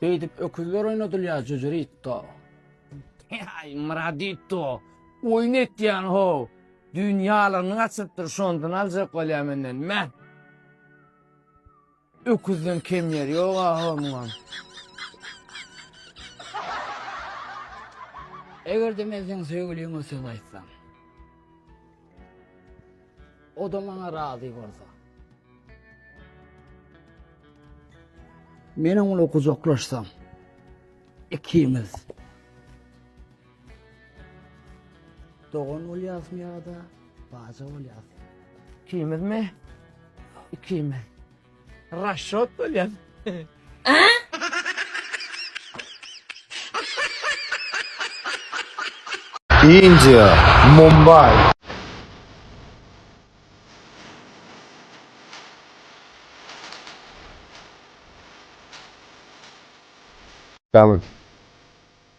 Beýdip öküzler oýnadylýar jüjüritdo. Aý, Myraditdo, oýun etýän how. Düýn ýalygyny gaçyrypdyr, şondan aljak bolýar menden. Mä! Öküzden kem ýeri ýok aga muňam. Eger-de men seň söýgüliňe söz aýtsam. O-da maňa razy bolsa. Men oňly gujaklaşsam. Ikimiz. Dogan bolýasmy ýa-da baja bolýasmy? Ikimizmi? Ikimiz. Raşşot bolýas. India, Mumbai. Dawid.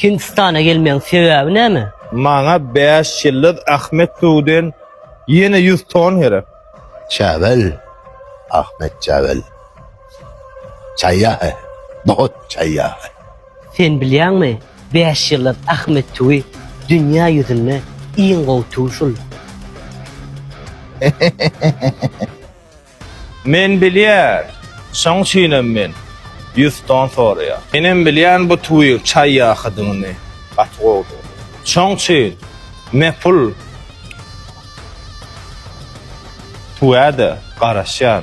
Hindistana gelmegiň sebäbi näme? Maňa bäş ýyldyz Ahmet Suwden ýene ýüz ton gerek. Çäwel, Ahmet Çäwel. Çaýýahy, Bohut çaýýahy. Sen bilýäňmi, bäş ýyldyz Ahmet Suwy dünýä ýüzünde iň gowy suw şul. Men bilýär, şoň üçinem men Ýusdan soraýan. Menem bilýän bu twiýň çaý ýakydygyny gaty gowudygyny. Şoň üçin mepul twýa-da garaşýan.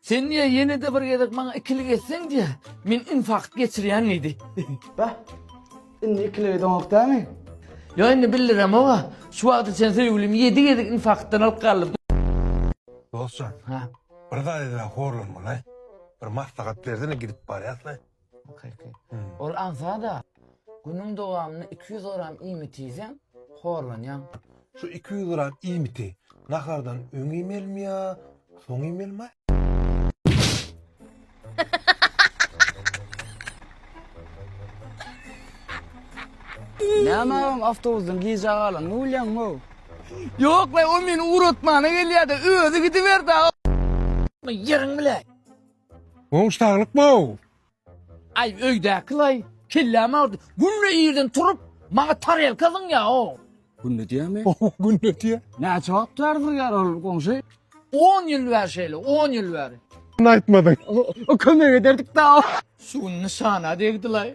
Sen diýýär, ýene-de bir gezek maňa ikilik etseň diýýär, men infarkt geçirýän diýdi. Bah, indi ikilik edeňok dämi? Ýok, indi bildiremog-a. Şu wagta çenli söýgülimi ýedi gezek infarktdan alyp galdym. Dostjan, bir zat edene horlanma-laý. Bir maslahat bersene, gidip barýas-laý. Kyrky. Ol agza-da, günüň dowamynda iki ýüz gram iýmit iýseň, horlanýaň. Şu iki ýüz gram iýmiti nahardan öň iýmelimi ýa soň iýmelimi? Näme agam awtobusdan gijä galan bolýaňmy-ow? Ýok-laý, ol meni ugratmana gelýär-de, özi gidiberdi-ä. Ýeriň bile. Gowy saglyk bow. Aý öýdäkilaý kellämi agyrdy. Günde irden turup maňa tarelka zyňýa o. Günde diýämi? Günde diýä. Näçe wagt bäri zyrýar ol goňşy? 10 ýyl bäri şeýle, 10 ýyl bäri. Muny aýtmadyň. O kömek ederdik da. Şu gün nyşana degdilaý.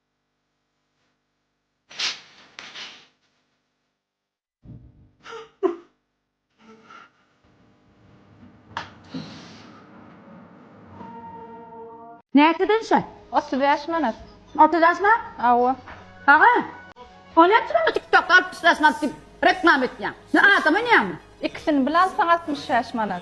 Näçeden şa? Otuz bäş manat. Otuz bäş manat? Hawa. Aga, o näçe bu TikTok altmyş bäş manat diýip reklama etýäň? Sen adam oýnaýaňmy? Ikisini bilen alsaň altmyş bäş manat.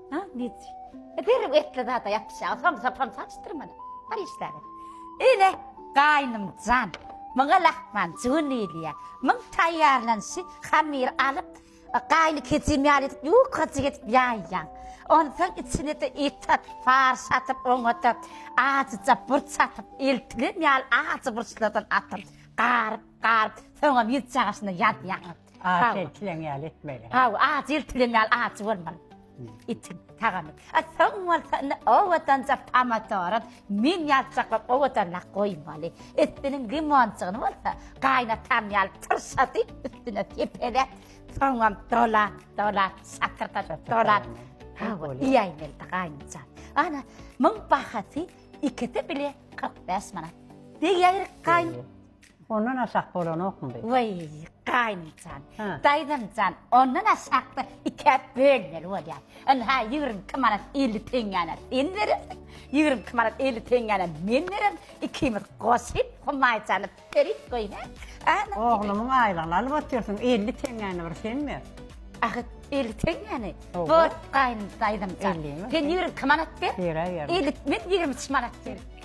Ha, git. Ederim etli zada yapışa. Sam sapam saçtır mana. Bar işler. Ele gaynım can. Mıňa lahman cüvün diýilýär. Mıň taýýarlanşy hamir alyp, gaýny keçim ýaly edip ýukajyk edip ýaýýaň. Onsoň içine de et atyp, farş atyp, oňa-da ajyja burç atyp, eltilen ýaly ajy burçlardan atyp, garyp, garyp, soňam ýüz çagaşyna ýazýaňyz. Aç ertilen ýaly etmeli. Haw, aç ertilen ýaly aç bolmaly. Itin tagamy. A soň bolsa indi owadança pomadory men ýazjaklap owadanyna goýmaly. Üstüniň limonçygyny bolsa gaýnatan ýaly tyrşady, üstüne sepele. Soňam dolap, dolap, şakyrda dolap. Haw, iýäýmeli gaýnança. Ana, muň bahasy ikisi bile 45 manat. Diýýärik gaýyn. Ondan aşak bolanokmy bu? Weý, gaýynjan, daýzamjan, ondan aşakda ikäp bölmeli bolýar. Indi ha ýigrimi iki manat elli teňňäni sen berersiň, ýigrimi iki manat elli teňňäni men bererin, ikimiz goşup, humaýjany berip goý, hä? Oglumyň aýlygyny alyp otyrsyň, elli teňňäni bir sen ber. Ahyt, elli teňňäni? Bor, gaýyn, daýzamjan, sen ýigrimi iki manat ber, elli, men ýigrimi üç manat bererin.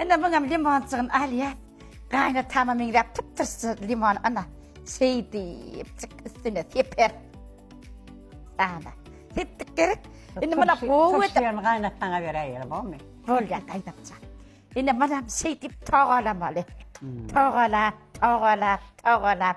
Ine muňam limonjygyny alýas. Gaýynatama meňzäp typ-tyrsy limon ana. Şeýdipjik üstüne seper. Ana. Sepdik gerek. Indi muna gowy edip. Şeýdip gaýynatana beräýelim, bolmy? Bolýar gaýynatja. Indi munam şeýdip togalamaly. Togalap, togalap, togalap.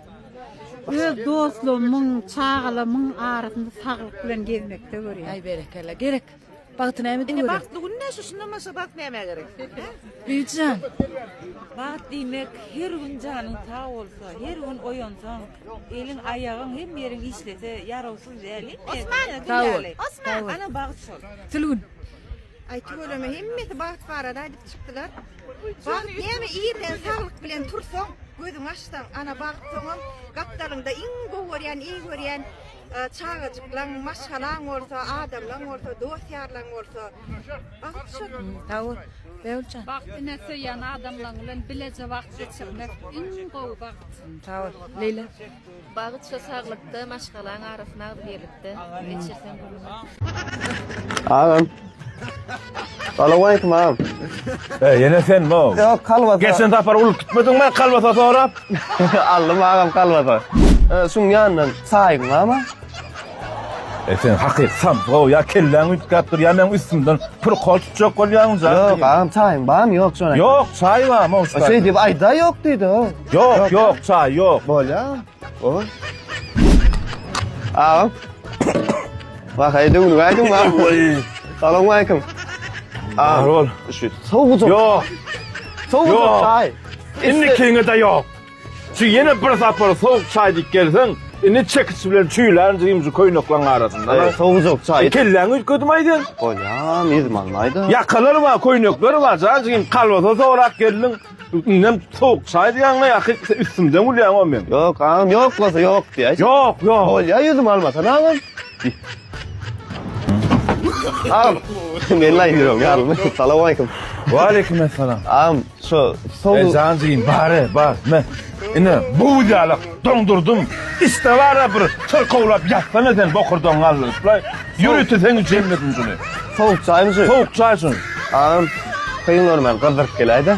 Öz dostlarymyň, çagalarymyň arasynda saglyk bilen gezmekde görýän. Aý berekella. Gerek. Bagty näme diýip görýär? Bagtly gün näşe şundan başga bagt nämä gerek? Bibijan. Bagt diýmek her gün janyň sag bolsa, her gün oýansaň, eliň, aýagyň, hemme ýeriň işlese, ýarawsyz däl. Osman. Sag bol. Osman. Ana bagt şol. Sülgün. Aý tüweleme hemmesi bagt barada aýdyp çykdylar. Bagt näme irden saglyk bilen tursaň gözüňi açsaň ana bagt soňam gapdalyňda iň gowy görýän eý görýän çagajyklaň maşgalaň bolsa adamlaň bolsa dost ýarlaň bolsa bagt şo sagbol Begüljan bagt ine söýýän adamlaň bilen bileje wagt geçirmek iň gowy bagt sagbol Leýla Bagt şo saglykda maşgalaň arasyna agzy birlikde geçirseň gülüň. Agam. Salawaleýkim agam. E, ýene sen bu. Ýok, kalbasa. Geçen sapar ulyp gitmediňmi kalbasa sorap? Aldym agam kalbasa. E, şuň ýanyndan saýyň barmy? E sen hakyky sabgo ya kelläň üýtgäp dur ya meň üstümden pul kol tutjak bolýaň ja. Ýok, agam çaýyň barmy? Ýok şoňa. Ýok, çaý barmy? Şeý diýip aýda ýok diýdi o. Ýok, ýok, çaý ýok. Bolýa. O. Agam. Bak aýda gün gaýdyň ba. Salam aýkym. Agam. Ol. Şu sowuk. Ýok. Sowuk çaý. Indi kiňe de ýok. Şu ýene bir sapar sowuk çaý diýip gelseň, indi çekiç bilen çüýlän jyňjy köýneklaň arasynda. Sowuk çaý. Kelläňi üýtgedim aýda. Bolýa, mizman aýda. Ýakalar bar, köýnekler bar, jaň jyňym kalbasa sorap geldiň. Indem sowuk çaý diýýäňmi ýa-ki üstümden gülýäňmi men? Ýok, agam, ýok bolsa ýok diýä. Ýok, ýok. Bolýa ýüzüm almasan agam. Agam, men laý ýürüm, ýalym. Salam aýkum. Wa aýkum essalam. Agam, şu sowuk. Jan diýin, bar, bar. Men. Ine, bu ýalak. Doňdurdym. Iste bar-a bir çyrkawlap ýatsana sen bokurdagyňy galdyryp-la. Ýörite seň üçin elmedim şuny. Sowuk çaýmy şu? Sowuk çaý şu. Agam, syn görmän gyzdyryp geläý-dä.